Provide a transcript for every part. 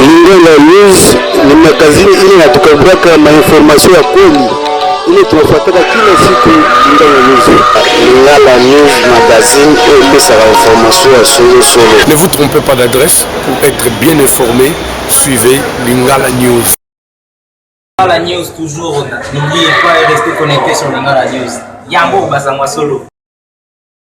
Lingala News ni magazini ile natukavuaka mainformasio ya kweli ile tunafuataka kila siku Lingala News. Lingala News magazine oyo epesaka informasio ya solosolo. Ne vous trompez pas d'adresse pour être bien informé, suivez Lingala News. Lingala News toujours, n'oubliez pas de rester connecté sur Lingala News. Yango bazangwa solo.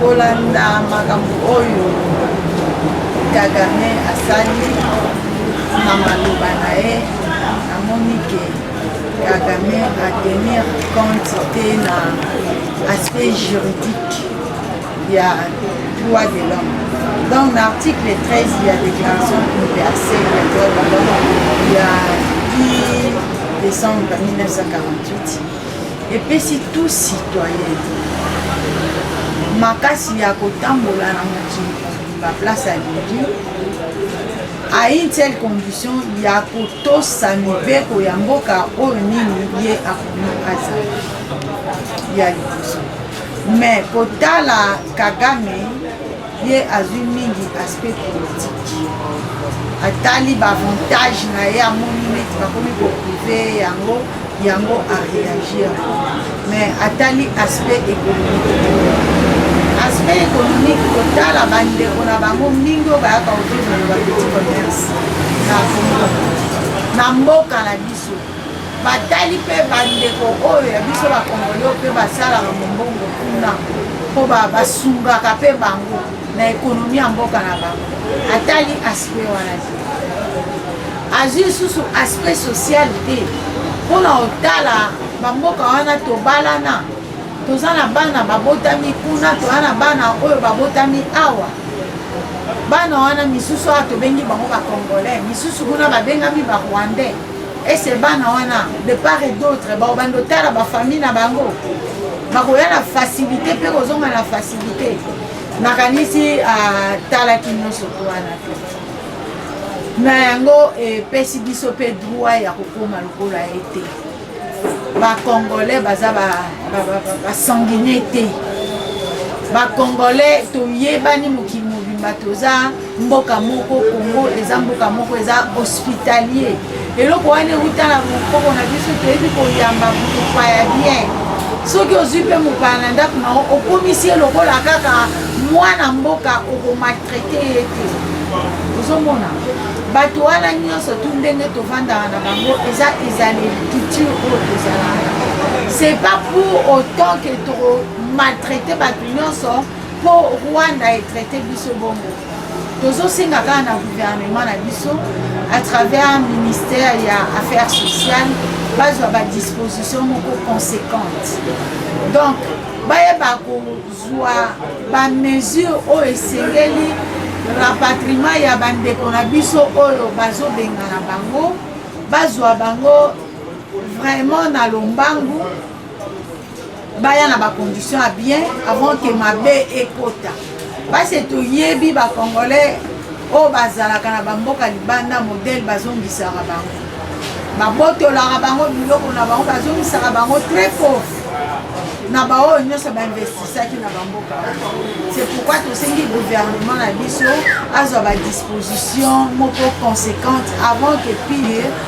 kolanda makambo oyo kagame asali na maloba na ye namoni ke kagame atenir compte te na aspect juridique ya droit de l'homme donc na article 13 ya déclaration universelle ya droit de l'homme ya 10 décembre 1948 epesi tout citoyen makasi ya kotambola na mokili mobimba place alingi à une telle condition ya kotosa mibeko ya mboka oyo nini ye akomi azali ya liboso Mais kotala Kagame ye azwi mingi aspect politique atali baavantage na ye amoni neti bakomi koprive yango yango areagir mais atali aspect économique aspect économique kotala bandeko na bango mingi oyo bayaka kovivre na bapetit commerce na mboka na biso batali mpe bandeko oyo ya biso bakongolio mpe basalaka mombongo kuna mpo basungaka mpe bango na ekonomi ya mboka na bango atali aspect wana te azwi lisusu aspect social te mpo na kotala bamboka wana tobalana toza na bana babotami kuna toza na bana oyo babotami awa bana wana misusu awa tobengi bango bacongolais misusu kuna babengami barwandais ese bana wana de part et d'autre baobanda otala bafamille na bango bakoya na facilité mpe kozonga na facilité nakanisi atalaki ah, nyonso to wana te na yango epesi biso mpe droit ya kokoma lokola ye te bacongolais baza basanguine te bacongolais toyebani mokili mobimba toza mboka moko congo eza mboka moko eza hospitalier eloko wana euta na mokoko na biso toyebi koyamba mopaya bien soki ozwi mpe mopaya na ndako na yo okomisi ye lokola kaka mwana mboka okomaltraite ye te ozomona bato wana nyonso tu ndenge tofandaka na bango eza ezaleli culture oyo tozalaka c'est pas pour autant que tokomaltraite bato nyonso Po Rwanda e traite biso bongo. Tozosenga kaka na gouvernement na biso à travers ministère ya affaires sociales bazwa ba disposition moko conséquente donc bayeba kozwa ba mesure oyo esengeli rapatriement ya bandeko na biso oyo bazobengana bango bazwa bango vraiment na lombangu baya na ba condition ya bien avant ke mabe ekota base toyebi ba congolais oyo bazalaka na bamboka libanda modele bazongisaka bango babotolaka bango biloko na bango bazongisaka bango très pauvre na baoyo nyonso bainvestisaki na bamboka c'est pourquoi tosengi gouvernement na biso azwa badisposition moko conséquente avant que pire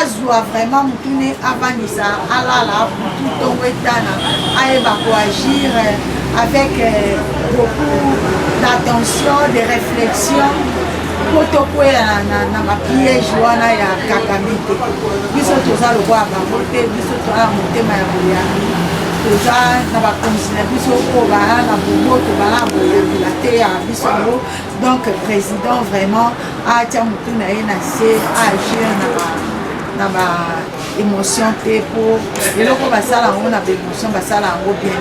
azwa vraiment mutune avandisa alala butu ntongo etana ayeba koagir euh, avec euh, beaucoup d'attention de réflexion mpo tokwea na bapiège wana ya kakame te biso toza lokola bango te biso toza na motema ya boyambi toza na bakonzi na biso oyo baa na boboto baa na boyambi bateyaka biso yango donc président vraiment atya motu na ye na se agir na ba na ba émotion te mpo eloko basala yango na baémotion basala yango bien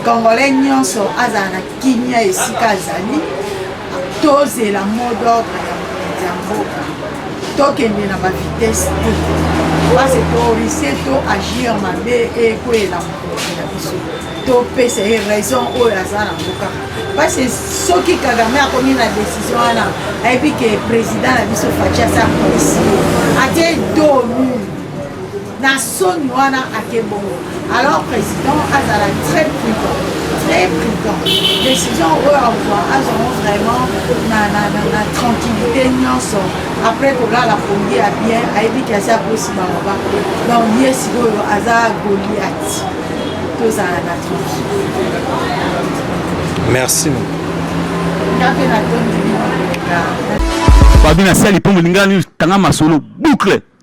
congolais nyonso azala na kimia esika azali tozela mot d'ordre ya mokonzi ya mboka tokende na bavitese te base torise to agir mabe ekweyela mokonzi na biso topesa ye raison oyo aza nango kaka parce soki kagame akomi na décision wana ayebi ke président na biso faci aza polisi atie domi na soni wana ake bongo alors président azala très prudent très prudent décision oyo akozwa azwango vraiment na, na, na, na tranquillité nyonso après kolala pongi ya bien ayebi ke aza kosimama ba donc ye sikoyo aza goliath tozala na merci fabi nasali mpo molingani tanga masolo boucle